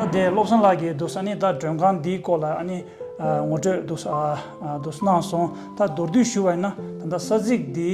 ད་དེ་བློ་བཟང་ལགས་ཀྱིས་འདུག་ས་ནི་ད་མགྲོན་ཁང་འདིའི་སྐོར་ལ་ནི་ངོ་སྤྲོད་འདུག་གནང་སོང་ད་མདོར་བསྡུས་ཞུ་བ་ཡིན་ན་ད་ས་ཚིགས་འདིའི་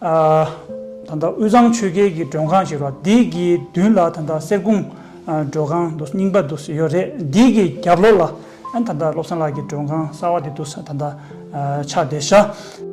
ད་ལྟ་དབུས་གཙང་ཆོལ་ཁའི་གི་མགྲོན་ཁང་ཞིག་རོ་འདིའི་གི་མདུན་ལ་ད་ལྟ་གསེར་གུང་མགྲོན་ཁང་འདུག་རྙིང་པ་འདུག་ཡོད་རེད་འདིའི་གི་རྒྱབ་ལོགས་ལ་ད་ལྟ་བློ་བཟང་ལགས་ཀྱི་མགྲོན་ཁང་གསར་བ་དེ་འདུག་ད་ལྟ་ཕྱག་བདེ་ཤག།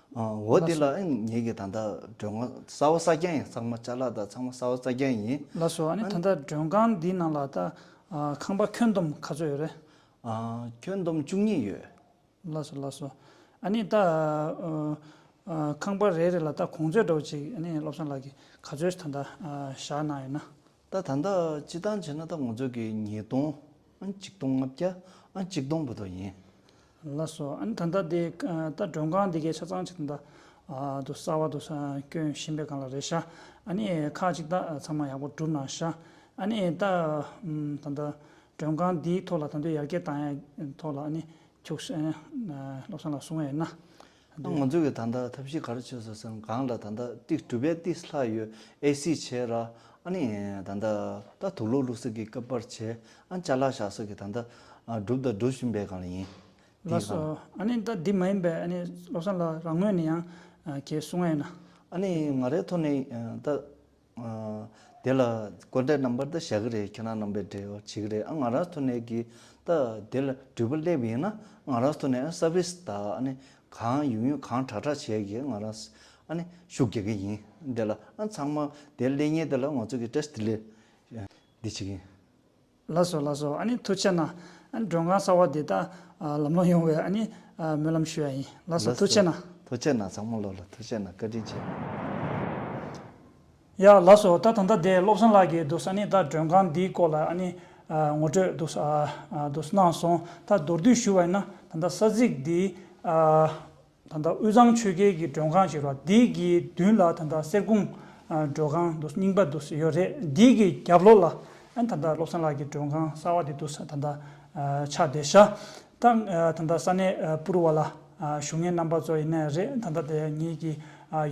འོ་དེ་ལ་ཨང་ཉེ་གི་ད་ལྟ་མགྲོན་ཁང་གསར་བ་གསར་རྐྱང་ཡིན་ཚང་མ་ལྕགས་ལ་དང་ཚང་མ་གསར་བ་གསར་རྐྱང་ཡིན། ལ་སོ་ཨ་ནི་ད་ལྟ་མགྲོན་ཁང་འདིའི་ནང་ལ་ད་ཁང་པ་ཁྱོན་བསྡོམས་ག་ཚོད་ཡོད་རེད། ཁྱོན་བསྡོམས་བཅུ་གཉིས་ཡོད། ལ་སོ་ལ་སོ་ཨ་ནི་ད་ཁང་པ་རེ་རེ་ལ་ད་གོང་ཚོད་འགྲོ་བ་ཅིག་ཨ་ནི་བློ་བཟང་ལགས་ཀྱིས་ག་ཚོད་ད་ལྟ་བཞག་གནང་ཡོད་ན། ད་ད་འདི་སྤྱི་བཏང་བྱས་ན་ད་ངོ་ཚོད་ཀྱི་ཉིས་སྟོང་ཨ་གཅིག་སྟོང་ལྔ་བརྒྱ་ཨ་གཅིག་སྟོང་བུ་དོ་ཡིན། ལ་སོགས་ཨ་ནི་ད་འདི་དེ་ད་མགྲོན་ཁང་འདི་གའི་ཆ་ཚང་བྱས་ན་ད་དུ་གསར་བ་དུ་སྐྱོན་བཞིན་པའི་གང་ལ་རེ་ཤ་ཨ་ནི་ཁག་གཅིག་ད་ཚང་མ་ཡག་པོ་བསྒྲུབ་ན་ཤ་ཨ་ནི་ད་ད་འདི་མགྲོན་ཁང་འདིའི་ཐོག་ལ་ད་འདི་ཡར་རྒྱས་བཏང་ཡས་ཐོག་ལ་ཨ་ནི་ཁྱུགས་བློ་བཟང་ལ་གསུང་བས་ན། ང་ཚོ་གི་ད་ལྟ་ཐབས་ཤེས་ག་རེ་བྱེད་ཟེར་སེམས་གང་ལ་ད་ལྟ་ཏིག་གྲུ་པའི་ཏིག་ལྷག་ཡོད་ཨེ་སི་བྱེད་ར་ཨ་ནི་ད་ལྟ་ད་དུག་ལོག་བླུག་ཟེར་གི་སྐབས་པར་བྱེད་ཨ་ནི་བྱ་ལག་བཞག་ཟེར་གི་ད་ལྟ་སྒྲུབ་ད་སྒྲུབ་བཞིན་པའི་གང་ལ་ཡིན་ལ་དེའི་གང། སོ་ཨ་ནི་ད་དེ་མ་ཡིན་པའི་ཨ་ནི་བློ་བཟང་ལགས་རང་ངོས་ནས་ཡང་ཁྱེད་གསུང་ཨེ་ན། ཨ་ནི་ང་རའི་ཐོག་ནས་ད། དེ་ལ་དཀོན་གྲས་རྣམ་པར་ད་བཞག་གི་རེད་ཁྱེད་རང་རྣམ་པས་འབྲེལ་བ་བྱེད་ཀྱི་རེད་ཨ་ང་རག་ཐུ་ནད་ཀྱི་ད་དེ་ལ་འགྲུལ་པ་སླེབས་ཡིན་ན་ཨ་ང་རག་ཐུ་ནད་ཨ་སར་བིས་ད་ཨ་ནི་གང་ཡུག་ཡུག་གང་དྲག་དྲག་བྱས་ཀྱི་ཨ་ང་རག་ཨ་ནི་ཤུགས་རྒྱག་གི་ཡིན་དེ་ལ་ཨ་ཚང་མ་དེ་ལས་ཉེས་དེ་ལ་ང་ཚོ་གི་ཏྲེས་ཏི་ལི་འདི་བྱེད་ཀྱི། ལགས་སོ་ལགས་སོ་ཨ་ནི་ཐུགས་ཆེ་ན་ཨ་ནི་མགྲོན་ཁང་གསར་བ་དེ་དག་ལམ་ལོང་ཡོང་བའི་ཨ་ནི་སྨོན་ལམ་ཞུ་ཡ་ཡིན་ལགས་སོ་ཐུགས་ཆེ་ན། ཐུགས་ཆེ་ན་བཟང་མོ་ལོ་ལ་ཐུགས་ཆེ་ན་བཀའ་དྲིན་ཆེ། ཡ་ལགས་སོ་ད་ད་ལྟ་དེ་བློ་བཟང་ལགས་ཀྱིས་འདུག་ཨ་ནི་ད་མགྲོན་ཁང་འདིའི་སྐོར་ལ་ཨ་ནི་ངོ་སྤྲོད་འདུག་འདུག་གནང་སོང་ད་མདོར་བསྡུས་ཞུ་བ་ཡིན་ན་ད་ལྟ་ས་ཚིགས་འདིའི། ད་ལྟ་དབུས་གཙང་ཆོས་རྒྱལ་གྱི་མགྲོན་ཁང་ཞིག་རོགས་འདེགས་ཀྱི་མདུན་ལ་ད་ལྟ་གསེར་གུང་མགྲོན་ཁང་འདུག་རྙིང་པ་འདུག་ཡོད་རེད་འདི་གི་རྒྱབ་ལོགས་ལ་ད་ལྟ་བློ་བཟང་ལགས་ཀྱི་མགྲོན་ཁང་གསར་བ་དེ་འདུག་ད་ལྟ་ཕྱག་བདེ་ཤ་སྟག་ད་ལྟ་ས་གནས་པུར་བ་ལ་ཞུ་ངའི་རྣམ་པ་ཙོག་ཡིན་ནའི་རེད་ད་ལྟ་དེ་ངེད་ཀྱི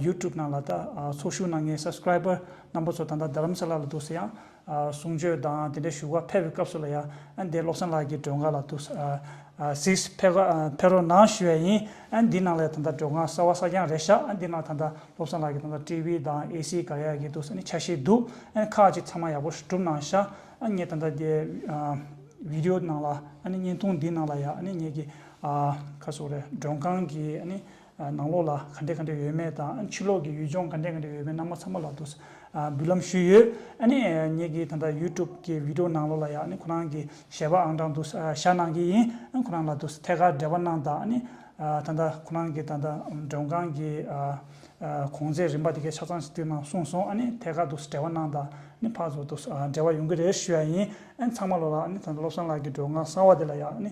YouTube ནང་ལ་ད་ཚོགས་ཞུགས་གནང་ངའི Subscriber རྣམ་པ་ཚོ་ད་ལྟ་རྡ་རམ་ས་ལ་ལ་འདུག་ཟེར་ཡང་གསུང་ཆོས་དང་དེ་འདྲའི་བཞུགས་སྒར་ཕེབས་པའི་སྐབས་སུ་ལ་ཡ་ཨན་དེ་བློ་བཟང་ལགས་ཀྱི་སྒྲོལ་དཀར་ལ་ཐུག། ཟིགས། ཕེབས་རོགས་གནང་ཞུས་པ་ཡིན། ཨན་འདི་ནང་ལ་ཡ་ད་ལྟ་སྒྲོལ་དཀར་གསར་བ་གསར་རྐྱང་རེད་ཤག་ཨན་འདི་ནང་ད་ལྟ་བློ་བཟང་ལགས་ཀྱི་ད་ལྟ་ཀྲི་བྷི་དང་ཨེ་སི་ག་རེ་ཡག་གི་འདུག་ས་ནི་ཆ་ཤས་འདུག་ཨན་ཁག་ཅིག་ཚང་མ་ཡག་པོ་བསྒྲུབ་གནང་ཤག་ཨན་ངས་ད་ལྟ་དེ་བི་དེ་ཡོ་ནང་ལ་ཨན་བརྙན་ཐུང་འདི་ནང་ལ་ཡ་ཨན་ངས་ཀྱི་ཁ་སོ་རེ་སྒྲོན་ཁང་གི་ཨན་ནང་ལོགས་ལ་ག་འདྲས་ག་འདྲས་ཡོད་མེད་དང་ཕྱི་ལོགས་ཀྱི་ཡུལ་ལྗོངས་ག་འདྲས་ག་འདྲས་ཡོད་མེད་རྣམས་མ་ཚང་མ་ལ་དུ་འབུལ་ལམ་ཞུས་ཡོད་ཨ་ནི་ངེད་ཀྱི་ད་ལྟ YouTube ཀྱི Video ནང་ལོགས་ལ་ཡང་ཨ་ནི་ཁོ་རང་གི་ཞལ་པ་ཨང་གྲངས་དུ་བཞག་གནང་གི་ཡིན་ཨ་ཁོ་རང་ལ་དུ་ཐད་ཀར་འབྲེལ་བ་གནང་དང་ཨ་ནི་ད་ལྟ་ཁོ་རང་གི་ད་ལྟ་མགྲོན་ཁང་གི་གོང་ཚད་རིམ་པ་དེ་གའི་ཆ་ཚང་ཞིག་བསྟུན་གནང་གསུངས་སོང་ཨ་ནི་ཐད་ཀར་དུ་འབྲེལ་བ་གནང་དང་ཨ་ནི་ཕར་ཚུར་དུ་འབྲེལ་བ་ཡོང་གི་རེད་ཞུས་ཡ་ཡིན་ཨ་ནི་ཚང་མ་ལོགས་ལ་ཨ་ནི་ད་ལྟ་བློ་བཟང་ལགས་ཀྱི་མགྲོན་ཁང་གསར་བ་དེ་ལ་ཡང་ཨ་ནི།